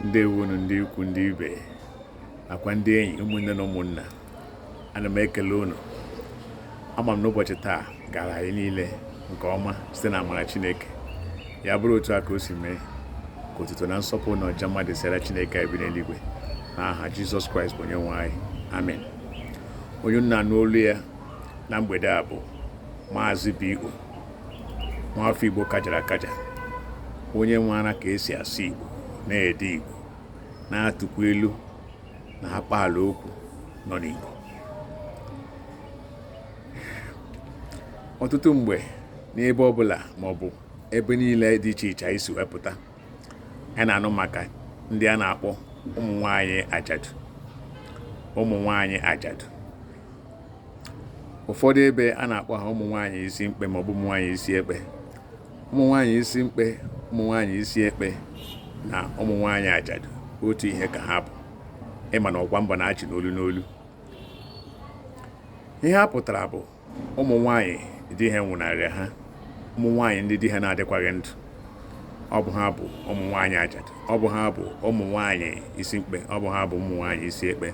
ndewonu ndị ikwu ndị ibe nakwa ndị enyi ụmụnne na ụmụnna ana m ekele unu ama m na ụbọchị taa gara anyị niile nke ọma site na amara chineke ya bụrụ otu a ka o si mee ka otuto na nsọpụrụ na ọja mma dịsịrị chineke na-ebi n'eluigwe na aha jizọs kraịst bụ onye nwe anyị amen onye unu na-anụ olu ya na mgbede a bụ maazị B.O. nwafọ Igbo kajara akaja onye maara ka esi asụ Igbo na-ede Igbo na-atụkwa ilu na akpaalaokwu nọ n'Igbo ọtụtụ mgbe n'ebe ọbụla maọbụ ebe niile dị iche iche anyị si wee pụta a na-anụ maka ndị a na-akpọ ụmụ nwanyị ajadu ụmụ nwanyị ajadu ụfọdụ ebe a na-akpọ ha ụmụ nwanyị isi mkpe maọbụ ụmụ nwanyị isi ekpe ụmụ nwanyị isi mkpe ụmụ nwanyị isi ekpe na ụmụ nwanyị ajadu otu ihe ka ha bụ ị ma na ọkwa mba na-achị n'olu n'olu ihe a pụtara bụ ụmụ nwaanyị di ha nwụnarịa ha ụmụ nwaanyị ndị di ha na-adịkwaghị ndụ ọ bụ ha bụ ụmụ nwaanyị ajadu ọ bụ ha bụ ụmụ nwaanyị isi mkpe ọ bụ ha bụ ụmụ nwaanyị isi ekpe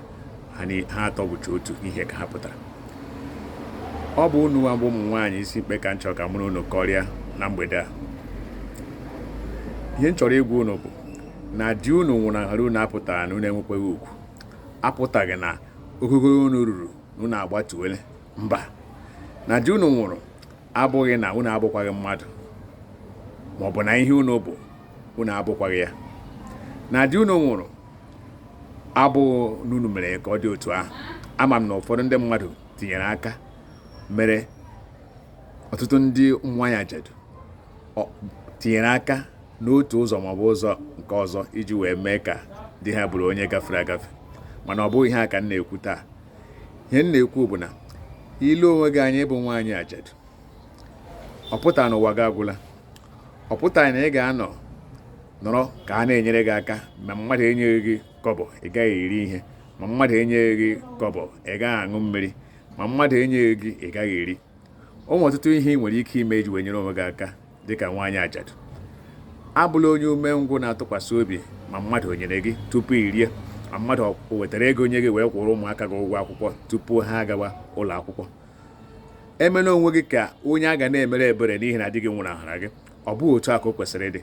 ha atọ bụcha otu ihe ka ha pụtara ọ bụ unu bụ ụmụ nwaanyị isi mkpe ka m chọrọ ka mụ na unu kọrịa na mgbede a ihe m chọrọ ịgwa unu bụ na di unu nwụnahara unu apụtaghị na unu enwekwaghị ugwu apụtaghị na ogogo unu ruru unu agbatuole mba na di unu nwụrụ abụghị na unu abụkwaghị mmadụ ma ọ bụ na ihe unu bụ unu abụkwaghị ya na di unu nwụrụ abụghị na unu mere ka ọ dị otu ahụ ama m na ụfọdụ ndị mmadụ tinyere aka mere ọtụtụ ndị ụmụ nwaanyị ajadu tinyere aka n'otu ụzọ maọbụ ụzọ nke ọzọ iji wee mee ka di ha bụrụ onye gafere agafe mana ọ bụghị ihe a ka m na-ekwu taa ihe m na-ekwu bụ na i lee onwe gị anya ị bụ nwaanyị ajadu ọ pụtaghị na ụwa gị agwụla ọ pụtaghị na ị ga-anọ nọrọ ka a na-enyere gị aka ma mmadụ enyeghị gị kọbọ ị gaghị eri ihe ma mmadụ enyeghị gị kọbọ ị gaghị aṅụ mmiri ma mmadụ enyeghị gị ị gaghị eri o nwere ọtụtụ ihe ị nwere ike ime iji wee nyere onwe gị aka dị ka nwaanyị ajadu abụla onye umengwụ na-atụkwasị obi ma mmadụ o nyere gị tupu i rie ma mmadụ o wetara ego nye gị wee kwụọrọ ụmụaka gị ụgwọ akwụkwọ tupu ha agawa ụlọ akwụkwọ emela onwe gị ka onye a ga na-emere ebere n'ihi na di gị nwụnahara gị ọ bụghị otu a ka o kwesịrị ịdị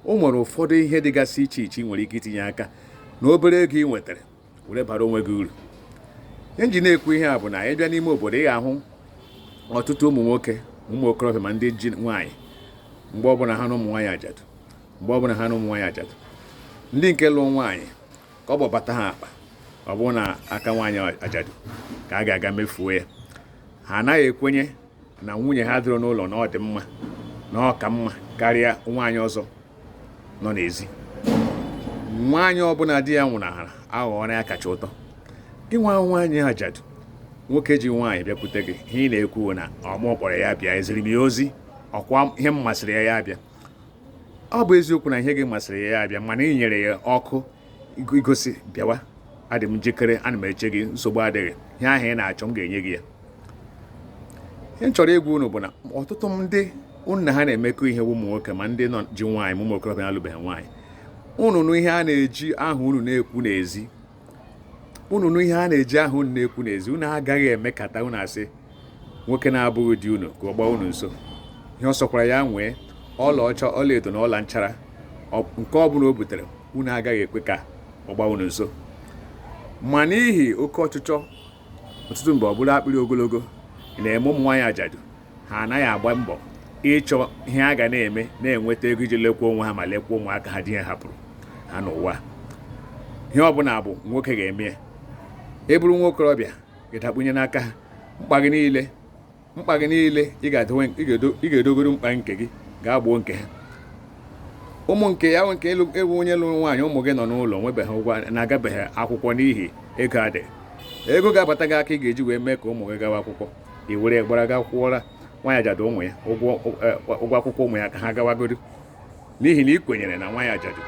o nwere ụfọdụ ihe dịgasị iche iche ị nwere ike itinye aka na obere ego ị nwetara were bara onwe gị uru ihe m ji na-ekwu ihe a bụ na anyị bịa n'ime obodo ị ga-ahụ ọtụtụ ụmụ nwoke ụmụ okorobịa ma ndị ji nwaanyị mgbe ọbụla ha na ụmụ nwaanyị ajadu mgbe ọbụla ha na ụmụ nwaanyị ajadu ndị nke lụrụ nwaanyị kọbọ bata ha akpa ọ bụrụ n'aka nwaanyị ajadu ka a ga-aga mefuo ya ha anaghị ekwenye na nwunye ha dịrị n'ụlọ na ọ dị mma na ọ ka mma karịa nwaanyị ọzọ nọ n'ezi nwaanyị ọbụla di ya nwụnahara aghọọrọ ya kacha ụtọ gị nwa nwaanyị ajadu nwoke ji nwaanyị bịakwute gị ihe ị na-ekwu na ọ mụ kpọrọ ya bịa eziri m ya ozi ọkwa ihe m masịrị ya ya bịa ọ bụ eziokwu na ihe gị masịrị ya ya bịa mana ị nyere ya ọkụ igosi bịawa adị m njikere ana m eche gị nsogbu adịghị ihe ahụ ị na-achọ m ga-enye gị ya ihe m chọrọ ịgwa unu bụ na ọtụtụ ndị unu na ha na-emekọ ihe ụmụ nwoke ma ndị nọ ji nwaanyị ma ụmụ okorobịa na-alụbeghị nwaanyị unu nụ ihe a na-eji aha unu na-ekwu n'ezi unu nụ ihe a na-eji aha unu na-ekwu n'ezi unu agaghị emekata unu asị nwoke na-abụghị di unu ka ọ gbaa unu nso ihe ọ sọkwara ya nwee ọlaọcha ọlaedo na ọla nchara nke ọ bụla o butere unu agaghị ekwe ka ọ gbaa unu nso ma n'ihi oke ọchịchọ ọtụtụ mgbe ọ bụrụ akpịrị ogologo na-eme ụmụ nwaanyị ajadu ha anaghị agba mbọ ịchọ ihe ha ga na-eme na-enweta ego iji lekwa onwe ha ma lekwa ụmụaka ha di ha hapụrụ ha n'ụwa ihe ọ bụla bụ nwoke ga-eme ya ị bụrụ nwa okorobịa gị dakpunye n'aka ha mkpa gị niile mkpa gị niile ị ga-edogodi mkpa nke gị gaa gboo nke ha ụmụ nke ya nke ewu onye lụrụ nwaanyị ụmụ gị nọ n'ụlọ nwebeghị ụgwọ na-agabeghị akwụkwọ n'ihi ego adịghị ego ga-abata gị aka ị ga-eji wee mee ka ụmụ gị gawa akwụkwọ i were gbara gaa kwụọra nwaanyị ajadu ụmụ ya ụgwọ e, akwụkwọ ụmụ ya ka ha gawagodi n'ihi na ị kwenyere na nwaanyị ajadu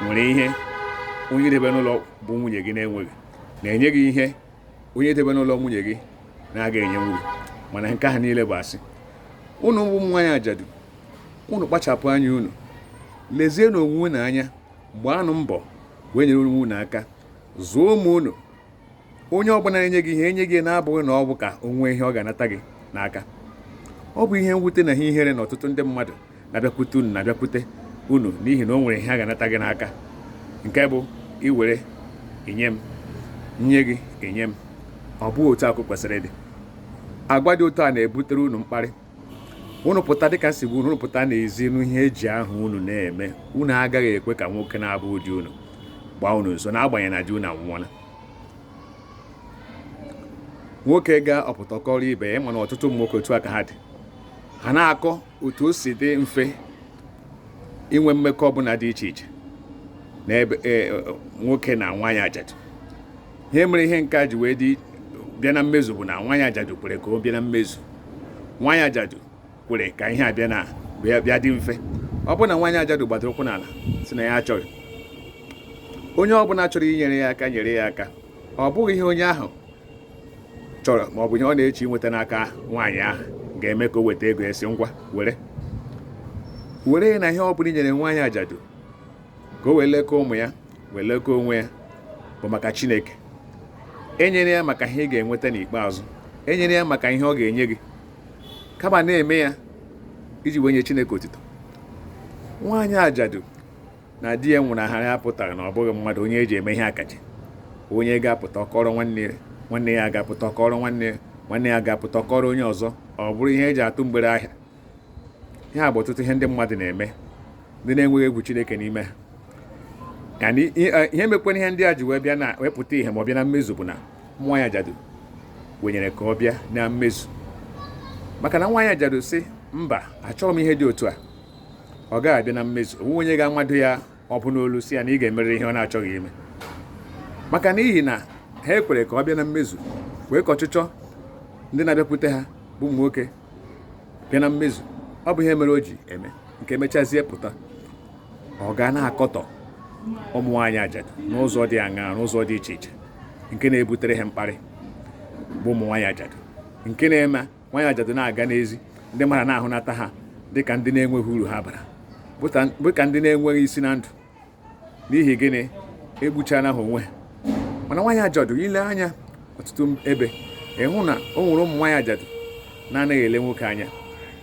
nwere ihe onye i debe n'ụlọ bụ nwunye gị na-enweghị na-enye gị ihe onye i debe n'ụlọ nwunye gị na-agaghị enyenwu gị mana nke ahụ niile bụ asị unu bụ ụmụ nwaanyị ajadu unu kpachapụ anya unu lezienụ onwe unu anya gbaanụ mbọ wee nyere onwe unu aka zụọ ụmụ unu onye ọbụla na-enye gị ihe enye gị na-abụghị na ọ bụ ka o nwee ihe ọ ga-anata gị n'aka ọ bụ ihe mwute na ihe ihere na ọtụtụ ndị mmadụ na-abịakwute unu na-abịakwute unu n'ihi na o nwere ihe ha ga-anata gị n'aka nke bụ i were i nye m nye gị i nye m ọ bụghị otu a ka o kwesịrị ịdị agwa dị otu a na-ebutere unu mkparị unu pụta dịka m sị unu pụta n'ezi nụ ihe e ji aha unu na-eme unu agaghị ekwe ka nwoke na-abụghị di unu gbaa unu nso n'agbanyeghị na di unu anwụọla nwoke ga-apụta kọọrọ ibe ya mana ọtụtụ ụmụ nwoke otu a ka ha dị ha na-akọ otu o si dị mfe inwe mmekọ ọbụla dị iche iche n'ebe e, e, nwoke na nwaanyị ajadu ihe mere ihe nke a ji wee dị bịa na mmezu bụ na nwaanyị ajadu kwere ka ọ bịa na mmezu nwaanyị ajadu kwere ka ihe a bịa dị mfe ọ bụrụ na nwaanyị ajadu gbadoro ụkwụ n'ala sị na ya achọghị onye ọbụla chọrọ inyere ya aka nyere ya aka ọ bụghị ihe onye ahụ chọrọ ma ọ bụ ihe ọ na-eche inweta n'aka nwaanyị ahụ ga-eme ka o weta ego esi ngwa were were na ihe ọ bụla i nyere nwaanyị ajadu ka o wee lekọọ ụmụ ya wee lekọọ onwe ya bụ maka Chineke enyere ya maka ihe ị ga-enweta n'ikpeazụ enyere ya maka ihe ọ ga-enye gị kama na-eme ya iji wee nye Chineke otito nwaanyị ajadu na di ya nwụnahara ya apụtaghị na ọ bụghị mmadụ onye eji eme ihe akaje onye ga-apụta ọ kọọrọ nwanne ya nwanne ya ga-apụta ọ kọọrọ nwanne ya nwanne ya ga-apụta ọ kọọrọ onye ọzọ ọ bụrụ ihe eji atụ mgbere ahịa ihe a bụ ọtụtụ ihe ndị mmadụ na-eme ndị na-enweghị egwu Chineke n'ime ha yani e, ihe mekwana ihe ndị a ji wee bịa na wee pụta ihe ma ọ bịa na mmezu bụ na nwaanyị ajadu kwenyere ka ọ bịa na mmezu maka na nwaanyị ajadu sị mba achọghị m ihe dị otu a ọ gaghị abịa na mmezu o nweghị onye ga-amado ya agbụ n'olu sị ya na ị ga-emerịrị ihe ọ na-achọghị ime maka n'ihi na ha ekwere ka ọ bịa na mmezu kwee ka ọchịchọ ndị na-abịakwute ha bụ ụmụ nwoke bịa na mmezu ọ bụ ihe mere o ji eme nke mechazie pụta ọ ga na-akọtọ ụmụ nwaanyị ajadu n'ụzọ dị aṅaa n'ụzọ dị iche iche nke na-ebutere ha mkparị bụ ụmụ nwaanyị ajadu nke na-eme nwaanyị ajadu na-aga n'ezi ndị mmadụ na-ahụnata ha dịka ndị na-enweghị uru ha bara dịka ndị na-enweghị isi na ndụ n'ihi gịnị egbuchana ha onwe ha mana nwaanyị ajadu i lee anya ọtụtụ ebe ị hụ na o nwere ụmụ nwaanyị ajadu na-anaghị ele nwoke anya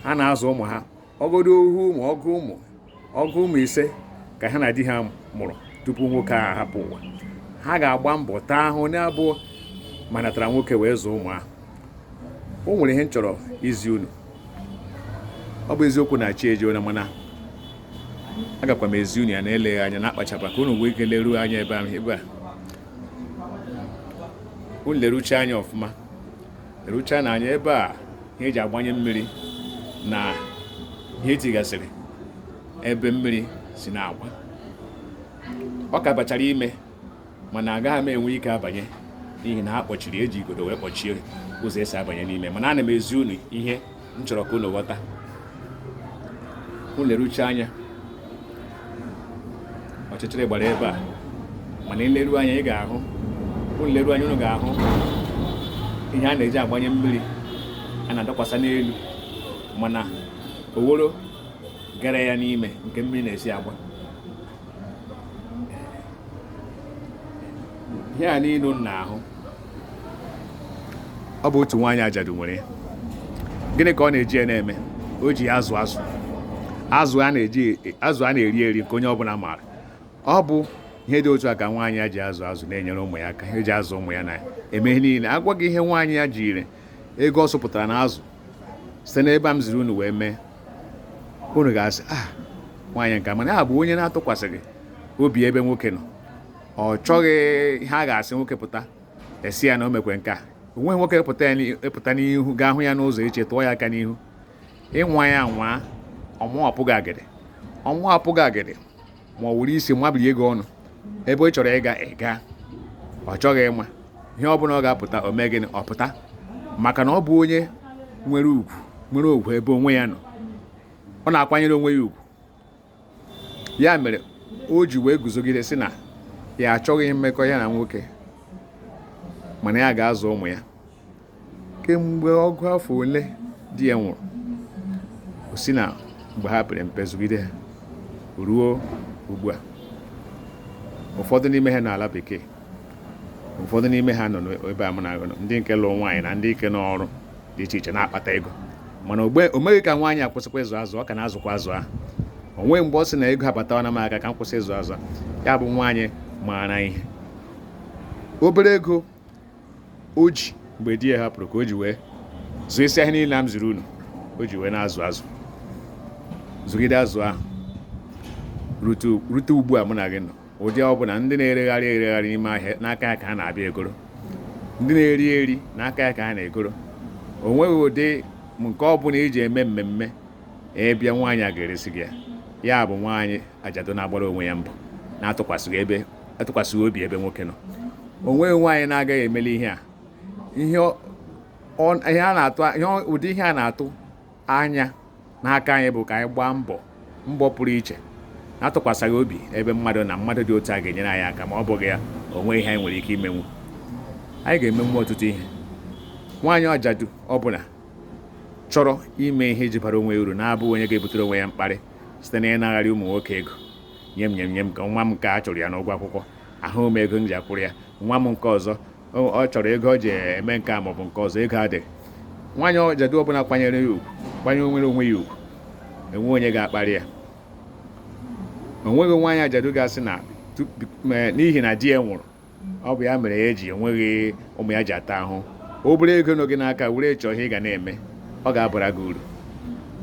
ha na-azụ ụmụ ha ọ bụgodu ohu ụmụ ọgụ ụmụ ọgụ ụmụ ise ka ha na di ha mụrụ tupu nwoke ahụ hapụ ụwa ha ga-agba mbọ taa ahụ na-abụghị ma natara nwoke wee zụọ ụmụ ahụ o nwere ihe m chọrọ izi unu ọ bụ eziokwu na chi ejiena mana agakwa m ezi unu ya na eleghị anya na-akpachapụ ka unu nwee ike leruo anya ebe ahụ ebe a unu lerucha anya ọfụma erucha na anya ebe a ihe eji agbanye mmiri na ihe etigasịrị ebe mmiri si na-agba ọ ka bachara ime mana agaghị m enwe ike abanye n'ihi na ha kpọchiri eji igodo wee kpọchie ụzọ esi abanye n'ime mana ana m ezi unu ihe m chọrọ ka unu ghọta unu leruche anya ọchịchịrị gbara ebe a mana i leru anya ị ga-ahụ unu leru anya unu ga-ahụ ihe a na-eji agbanye mmiri a na-adọkwasa n'elu mana oworo gara ya n'ime nke mmiri na-esi agba ihe a niile unu na-ahụ ọ bụ otu nwaanyị ajadu nwere ya gịnị ka ọ na-eji ya na-eme o ji ya azụ azụ azụ a na-eri eri nke onye ọbụla maara ọ bụ ihe dị otu a ka nwaanyị a ji azụ azụ na-enyere ụmụ ya aka eji azụ ụmụ ya na-eme ihe niile a gwa gị ihe nwaanyị a jiri ego ọ zụpụtara n'azụ site n'ebe a m ziri unu wee mee unu ga-asị ah nwaanyị nke a mana ya bụ onye na-atụkwasịghị obi ebe nwoke nọ ọ chọghị ihe a ga-asị nwoke pụta a sị ya na o mekwe nke a o nweghị nwoke pụta n'ihu ga-ahụ ya n'ụzọ iche tụọ ya aka n'ihu ị nwaa ya nwaa ọmụọ apụghị agịrị ọmụọ apụghị agịrị ma ọ wụrụ isi mabiri gị ọnụ ebe ị chọrọ ịga aga ọ chọghị ịma ihe ọ bụla ọ ga-apụta o mee gịnị ọ pụta maka na ọ bụ onye nwere ugwu nwere ugwu ebe onwe ya nọ ọ na-akwanyere onwe ya ugwu ya mere o ji wee guzogide sị na ya achọghị mmekọ ya na nwoke mana ya ga-azụ ụmụ ya kemgbe ọgụ afọ ole di ya nwụrụ o si na mgbe ha pere mpe zụgide ruo ugbu a ụfọdụ n'ime ha nọ n'ala bekee ụfọdụ n'ime ha nọ n'ebe a mụ na gị nọ ndị nke lụrụ nwaanyị na ndị nke nọ n'ọrụ dị iche iche na-akpata ego mana o meghị ka nwaanyị a kwụsịkwa ịzụ azụ ọ ka na-azụkwa azụ ahụ o nweghị mgbe ọ sị na ego abatawana m aka ka m kwụsị ịzụ azụ ya bụ nwaanyị maara ihe obere ego o ji mgbe di ya hapụrụ ka o ji wee zụọ isi ahịa niile a m ziri unu o ji wee na-azụ azụ zụgide azụ ahụ rute ugbu a mụ na gị nọ ụdị ọ bụla ndị na-eregharị eregharị n'ime ahịa n'aka ya ka ha na-abịa egoro ndị na-eri eri n'aka ya ka ha na-egoro o nweghị ụdị nke ọ bụla i ji eme mmemme ị bịa nwaanyị a ga-eresi gị ya ya bụ nwaanyị ajadu na-agbara onwe ya mbọ na-atụkwasịghị obi ebe nwoke nọ o nweghị nwaanyị na-agaghị emeli ihe a ụdị ihe a na-atụ anya n'aka anyị bụ ka anyị gbaa mbọ mbọ pụrụ iche na-atụkwasịghị obi ebe mmadụ nọ mmadụ dị otu a ga-enyere anyị aka ma ọ bụghị ya o nweghị ihe anyị nwere ike imenwu anyị ga-emenwu ọtụtụ ihe nwaanyị ajadu ọbụla chọrọ ime ihe iji bara onwe uru na-abụ onye ga-ebutere onwe ya mkparị site na ịnagharị ụmụ nwoke ego nye m nye m nye m ka nwa m nke a chụrụ ya n'ụgwọ akwụkwọ ahụ m ego m ji akwụrụ ya nwa m nke ọzọ ọ chọrọ ego ọ ji eme nke a maọbụ nke ọzọ ego adịghị nwaanyị ajadu ọbụla kwanyere ya ugwu kwanyewere onwe ya ugwu enwe onye ga-akparị ya o nweghị nwaanyị ajadu ga-asị na n'ihi na di ya nwụrụ ọ bụ ya mere ya eji enweghị ụmụ ya ji ata ahụ obere ego nọ gị n'aka were chọọ ihe ị ga na-eme ọ ga-abara gị uru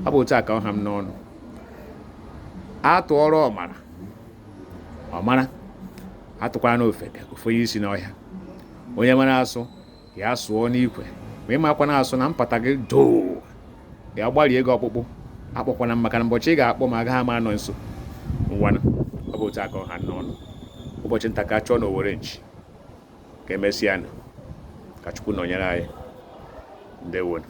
ọ bụ otu a ka ọ ha m n'ọnụ atụọrọ ọmara ọ mara atụkwara nụ ofeke o fenye isi n'ọhịa onye mara asụ ya sụọ n'ikwe ma ịmakwa na asụ na mpata gị doo ya gbarie gị ọkpụkpụ akpọkwana m maka na ụbọchị ị ga-akpọ m agaghị m anọ nso ngwanụ ọ bụ otu a ka ọ ha m n'ọnụ ụbọchị nta ka a chụọ na owere nchi ka emesịa nụ ka chukwu nọnyere anyị ndewo nụ